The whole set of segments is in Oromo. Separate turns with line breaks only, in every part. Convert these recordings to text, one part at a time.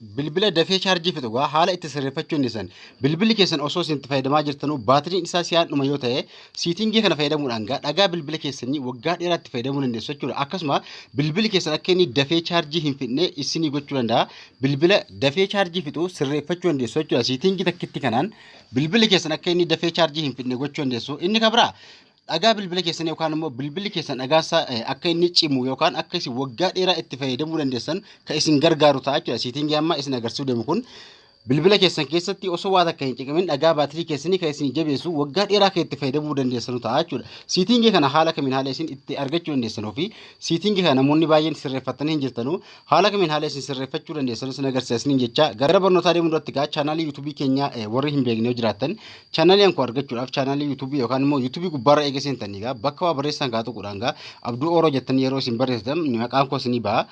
Bilbila dafee chaarjii fixu egaa haala itti sirreeffachuu dandeessan. Bilbilli keessan osoo isin itti fayyadamaa jirtanuu baatiriin isaa si'aan dhuma yoo ta'e siitingii kana fayyadamuudhaan egaa dhagaa bilbila keessanii waggaa dheeraa itti fayyadamuu dandeessu jechuudha. Akkasuma bilbilli keessan akka inni dafee chaarjii hin fixne isinii gochuu danda'a. Bilbila dafee chaarjii fixu sirreeffachuu dandeessu jechuudha. Siitingii takkitti kanaan bilbilli keessan akka inni dafee chaarjii hin fixne gochuu dandeessu. Inni kan biraa dhagaa bilbila keessan yookaan immoo bilbilli keessan dhagaa isaa eh, akka inni cimu yookaan akka isin waggaa dheeraa itti fayyadamuu dandeessan kan isin gargaaru ta'a jechuudha. Siitingii amma isin agarsiisuu deemu kun bilbila keessan keessatti osoo waa takka hin ciqimin dhagaa baatirii keessanii kan isin jabeessu waggaa dheeraa kan itti fayyadamuu dandeessanu ta'a jechuudha. Siitingii kana haala kamiin haala isin itti argachuu dandeessanu fi siitingii kana namoonni baay'een sirreeffattanii hin jirtanu Haala kamiin haala isin sirreeffachuu dandeessan isin agarsiisaniin jecha gara barnootaa deemuu irratti gaa chaanaalii yuutuubii keenyaa eh, warri hin beekne yoo jiraattan chaanaalii ankoo argachuudhaaf chaanaalii yuutuubii yookaan immoo yuutuubii gubbaarra eega seentanii gaa bakka waa barreessaan kaa tuquudhaan gaa abduu ooroo jettanii yeroo isin barreessitan maqaan koo isinii ba'a.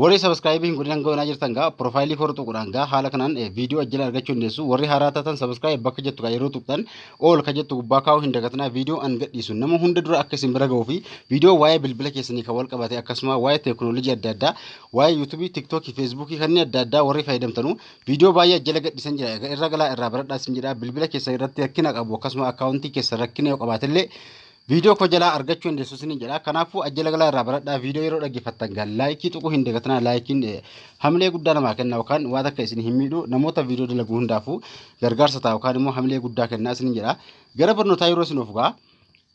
Warri sabiskiraayibii hin godhin hanga onaa jirtan gaa piroofaayilii koo irra tuquudhaan gaa haala kanaan eh, viidiyoo ajjala argachuu dandeessu warri haaraa taatan sabiskiraayib bakka jettu gaa yeroo tuqxan All ka jettu gubbaa kaa'uu hin dagatinaa viidiyoo an gadhiisu nama hunda dura akka isin bira ga'uu fi viidiyoo waa'ee bilbila keessanii kan wal qabate akkasuma waa'ee teekinooloojii adda addaa waa'ee yuutuubii tiktookii feesbuukii kanneen adda addaa warri fayyadamtanu viidiyoo baay'ee jala gadhiisan jira egaa irra galaa irraa baradhaa isin jedha bilbila keessan irratti rakkina qabu akkasuma akkaawuntii keessan rakkina yoo qabaatellee Viidiyoo koo jalaa argachuu dandeessu isiniin jedha. Kanaafuu ajjala galaa irraa baradhaa viidiyoo yeroo dhaggeeffattan gal laayikii tuquu hin dagatinaa laayikiin eh, hamilee guddaa namaa kenna yookaan waan akka isin hin miidhu namoota viidiyoo dalagu hundaafuu gargaarsa ta'a yookaan immoo hamilee guddaa kenna isiniin jedha. Gara barnootaa yeroo isin of gaa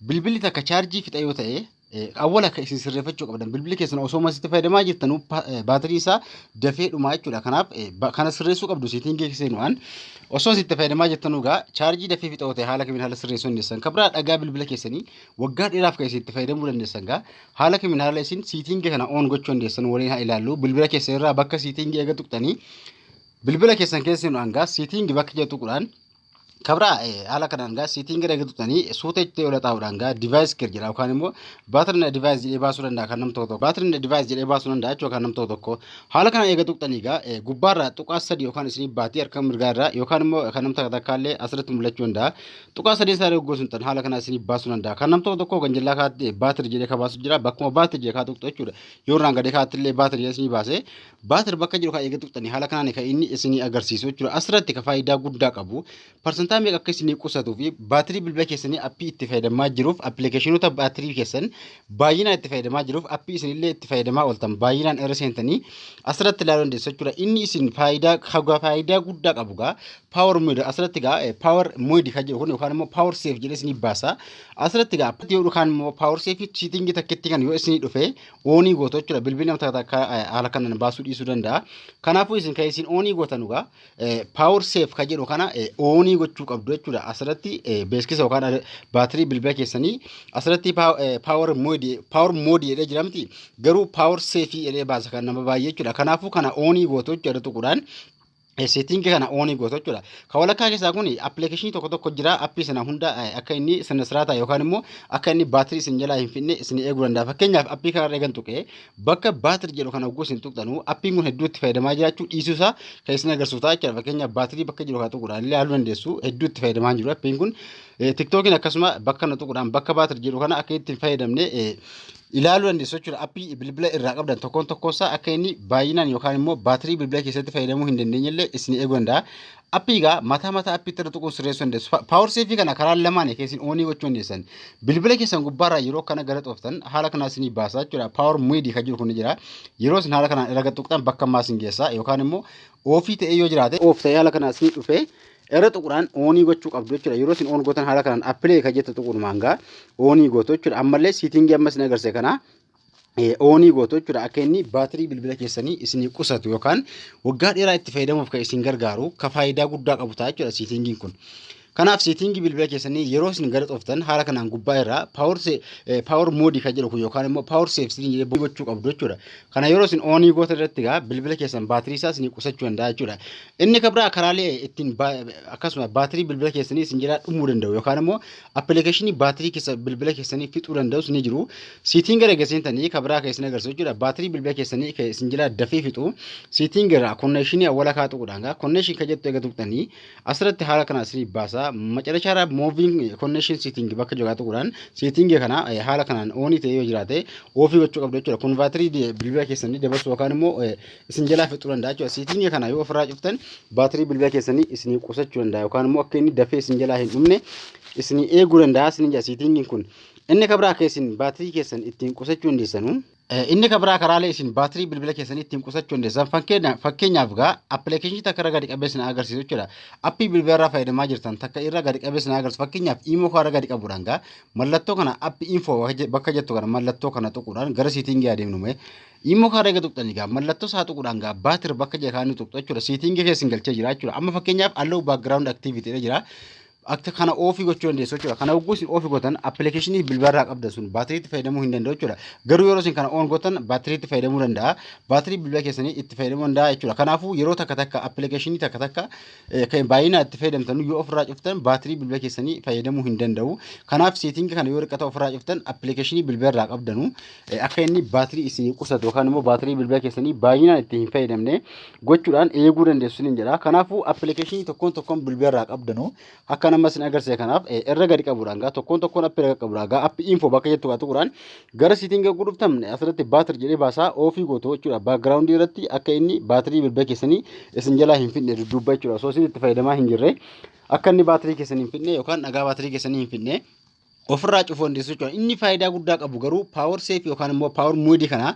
bilbilli takka chaarjii fixa yoo ta'e eh, awwala akka isin sirreeffachuu qabdan bilbilli keessan osoo masitti fayyadamaa jirtanuu pa- eh, baatirii isaa dafee dhumaa jechuudha. Kanaaf eh, ba- kana sirreessuu qabdu seetingii keessan waan Osoo itti fayyadamaa jirtan egaa chaarjii dafee fixoo ta'e haala kamiin haala sirreessuu dandeessan kan biraa dhagaa bilbila keessanii waggaa dheeraaf kan isin itti fayyadamuu dandeessan egaa haala kamiin haala isin siitingi kana oon gochuu dandeessan waliin haa ilaallu bilbila keessan irraa bakka siitingi eega tuqxanii bilbila keessan keessa hin hangaa siitingi bakka jedhu tuqudhaan kabraa haala kanaan gaa siitingi eega tuqxanii suuta itti ola taa'uudhaan gaa divaayis kir jedha yookaan immoo baatirin divaayis jedhee baasuu danda'a kan nam tokko tokko baatirin divaayis jedhee baasuu danda'a jechuudha kan nam tokko tokko Haala kana eega tuqxanii egaa gubbaarraa tuqaa sadii yookaan isinii baatii harka mirgaarraa yookaan immoo kan nam takka takkaallee asirratti mul'achuu danda'a. Tuqaa sadeen isaa yoo gosuun tan haala kana isinii baasuu danda'a. Kan nam tokko tokko ganjillaa kaatti baatir jedhee ka baasu jira bakkuma baatir jedhee kaa tuqxu jechuudha. Yoo irraan gadee kaattillee baatir jedhee isinii baase baatir bakka jiru kan eega tuqxanii haala kanaan kan inni isinii agarsiisu jechuudha. Asirratti ka faayidaa guddaa qabu Parsantaa meeqa akka isinii qusatuu fi baatirii bilbila keessanii appii itti fayyadamaa jiruuf appilikeeshinoota baatirii keessan baay'inaan itti fayyadamaa jiruuf appii isinillee itti fayyadamaa ooltan baay'inaan irra seentanii asirratti ilaaluu dandeessu jechuudha. Inni isin faayidaa hagaa faayidaa guddaa qabu gaa paawar mooyid asirratti gaa paawar mooyid kan jedhu kun yookaan immoo paawar seef jedhee isinii baasa asirratti gaa yoo yookaan immoo paawar seefi siitingii takkitti kan yoo isinii dhufe oonii gootu jechuudha bilbilli nama takka takka haala kanaan baasuu dhiisuu danda'a. Kanaafuu isin kan isin oonii gootan gaa power save ka jedhu kana oonii gochuu qabdu jechuudha. Asirratti beeksisa yookaan baatirii bilbila keessanii asirratti power mode power mode jedhee jiramti garuu power save jedhee baasa kan nama baay'ee jechuudha. Kanaafuu kana oonii gootu jechuudha tuquudhaan seetiingi kana oonii gootu jechuudha. Kan walakkaa keessaa kun appilikeeshinii tokko tokko jira appii sana hunda akka inni sirna siraataa yookaan immoo akka inni baatirii isin jalaa hin fidne isin eeguu danda'a. Fakkeenyaaf appii kanarra eegan tuqee Bakka baatirii jedhu kana hogguu isin tuqxanu appiin kun hedduu itti fayyadamaa jiraachuu dhiisuu isaa kan isin agarsiisu ta'a jechuudha. Fakkeenyaaf baatirii bakka jiru kana tuquudhaan illee haaluu dandeessu hedduu itti fayyadamaa jiru appiin kun. Tiktookiin akkasuma bakka kana tuquudhaan bakka baatirii jedhu kana akka ittiin fayyadamne ilaaluu dandeessu jechuudha. Appii bilbila irraa qabdan tokkoon tokkoon isaa akka inni baay'inaan yookaan immoo baatirii bilbila keessatti fayyadamuu hin dandeenye illee isin eeguu danda'a. Appii egaa mataa mataa appiitti irra tuquun sirreessuu dandeessu. Pa- Power Safe kana karaa lamaanii keessan oonii gochuu dandeessan. Bilbila keessan gubbaarraa yeroo kana gara xooftan haala kanaa isinii baasa jechuudha. Power Midi kan jiru kun ni jira. Yeroo isin haala kanaan irra gad tuqxan bakka ammaa isin geessa yookaan immoo oofii ta'ee yoo jiraate oof ta'ee haala kanaa isinii dhufee irra tuquudhaan oonii gochuu qabdu jechuudha. Yeroo isin oon gootan haala kanaan appilee kan jettu tuquudhumaan gaa oonii gootu jechuudha. Ammallee siitingii amma isin agarsiise kanaa oonii gootu jechuudha akka inni baatirii bilbila keessanii isinii qusatu yookaan waggaa dheeraa itti fayyadamuuf kan isin gargaaru ka faayidaa guddaa qabu ta'a jechuudha siitingiin kun. Kanaaf siitingii bilbila keessanii yeroo isin gara xoftan haala kanaan gubbaa irraa paawar moodii kan jedhu kun yookaan immoo paawar seef siin jedhee gochuu qabdu jechuudha. Kana yeroo isin oonii goota irratti egaa bilbila keessan baatirii isaa isin qusachuu danda'a jechuudha. Inni kan biraa karaalee ittiin akkasuma baatirii bilbila keessanii isin jalaa dhumuu danda'u yookaan immoo Appilikeeshinii baatirii keessa bilbila keessanii fixuu danda'us ni jiru. Siitiin gara egaa seentanii kan biraa kan isin agarsiisu jechuudha. Baatirii bilbila keessanii kan isin jala dafee fixu. Siitiin gara konneeshinii awwala kaa tuqudhaan gaa konneeshin kan jettu egaa tuqxanii asirratti haala kana isinii baasa. Macarashaa irraa mooviin konneeshin siiting bakka jiru kaa tuqudhaan siiting kana haala kanaan oonii ta'ee yoo jiraate oofii gochuu qabdu jechuudha. Kun baatirii bilbila keessanii dabarsu yookaan immoo isin jalaa fixuu danda'a jechuudha. Siitingii kana yoo ofirraa cuftan baatirii bilbila keessanii isinii qusachuu danda'a yookaan immoo akka inni dafee isin jalaa hin dhumne isinii eeguu danda'a isin jira siitingiin kun. Inni kan biraa akka isin baatirii keessan ittiin qusachuu dandeessanu. Inni kan biraa karaalee isin baatirii bilbila keessanii ittiin qusachuu dandeessan fakkeenyaaf gaa appilikeeshinii takka irra gadi qabee isin agarsiisu jechuudha. Appii bilbila irraa fayyadamaa jirtan takka irra gadi qabee isin agarsiisu fakkeenyaaf imoo kana irra gadi qabuudhaan gaa mallattoo kana appii info bakka jettu kana mallattoo kana tuquudhaan gara siitingii adeemnu mee Immoo kaarra eega tuqxanii gaa mallattoo isaa tuquudhaan gaa baatir bakka jira kaanii tuqxu jechuudha. Siitingii keessan galchee jira jechuudha. Amma fakkeenyaaf allow background activity dha jira. Akka kana oofii gochuu dandeessu jechuudha. Kana hogguu isin oofii gootan appilikeeshinii bilbilarraa qabdan sun baatiriitti fayyadamuu hin danda'u jechuudha. Garuu yeroo isin kana oon gootan baatiriitti fayyadamuu danda'a. Baatirii bilbila keessanii itti fayyadamuu danda'a jechuudha. Kanaafuu yeroo takka takka appilikeeshinii takka takka eh, kan baay'inaa itti fayyadamtan yoo ofirraa cuftan baatirii bilbila keessanii fayyadamuu hin danda'u. Kanaaf seetingi kana yoo riqata ofirraa cuftan appilikeeshinii bilbilarraa qabdanu Eh, akka inni baatirii isinii qusatu yookaan immoo baatirii bilbila keessanii baay'inaan itti hin fayyadamne gochuudhaan eeguu dandeessu isiniin jedha. Kanaafuu appilikeeshinii tokkoon tokkoon bilbila irraa qabdanu akka nama isin agarsiise kanaaf eh, irra gadi qabuudhaan gaa tokkoon tokkoon appii irra qabuudhaan gaa appii info bakka jettu gaa tuquudhaan gara siitiin gagguu dhuftan eh, asirratti baatir jedhee baasaa oofii gootu jechuudha. Baakgiraawundii irratti akka inni baatirii bilbila keessanii isin jalaa hin fidne dudduubba jechuudha. Osoo isin itti fayyadamaa hin jirre akka inni baatirii keessanii hin fidne yookaan dhagaa baatirii keessanii hin fidne ofirraa cufuu dandeessu jechuudha. Inni faayidaa guddaa qabu garuu power safe yookaan immoo power mode kana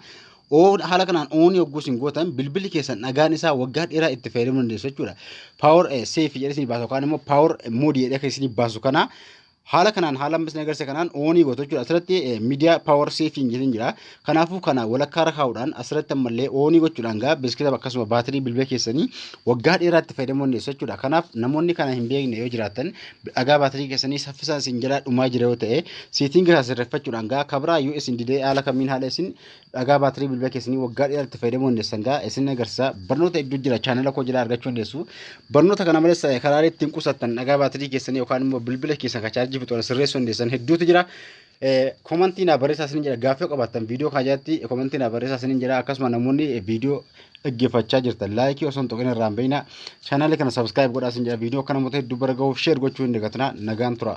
oo- haala kanaan oon yogguu isin gootan bilbilli keessan dhagaan isaa waggaa dheeraa itti fayyadamuu dandeessu jechuudha. Power eh, safe jedhee isin baasu yookaan immoo power mode jedhee kan isin baasu kana haala kanaan haala amma isin agarsiise kanaan oonii gootu jechuudha. Asirratti miidiyaa power saving jedhee jira. Kanaafuu kana walakkaarra kaa'uudhaan asirratti ammallee oonii gochuudhaan gaa beeskitaaf akkasuma baatirii bilbila keessanii waggaa dheeraa itti fayyadamuu dandeessu jechuudha. Kanaaf namoonni kana hin beekne yoo jiraatan dhagaa baatirii keessanii saffisaan isin jalaa dhumaa jira yoo ta'e siitinga isaa sirreeffachuudhaan gaa kabraa yoo isin didee haala kamiin haala isin dhagaa baatirii bilbila keessanii waggaa dheeraa itti fayyadamuu dandeessan gaa isin agarsiisa. Barnoota hedduu jira chaanala koo jalaa argachuu dandeessu. Barnoota kana malees karaalee ittiin qusattan dhagaa baatirii keessanii yookaan immoo bilbila keessan kan chaarjii fixu sirreessuu dandeessan hedduutu jira. Komantii naa barreessaa isiniin jedha gaaffii qabaattan viidiyoo kana jalatti komantii naa barreessaa isiniin jedha akkasuma namoonni viidiyoo dhaggeeffachaa jirtan laayikii osoo hin tuqin irraa hin beekna chaanaalii kana sabiskiraayib godhaa isin jedha viidiyoo kana moota hedduu bara gahuuf sheer gochuu hin dagatina nagaan tura.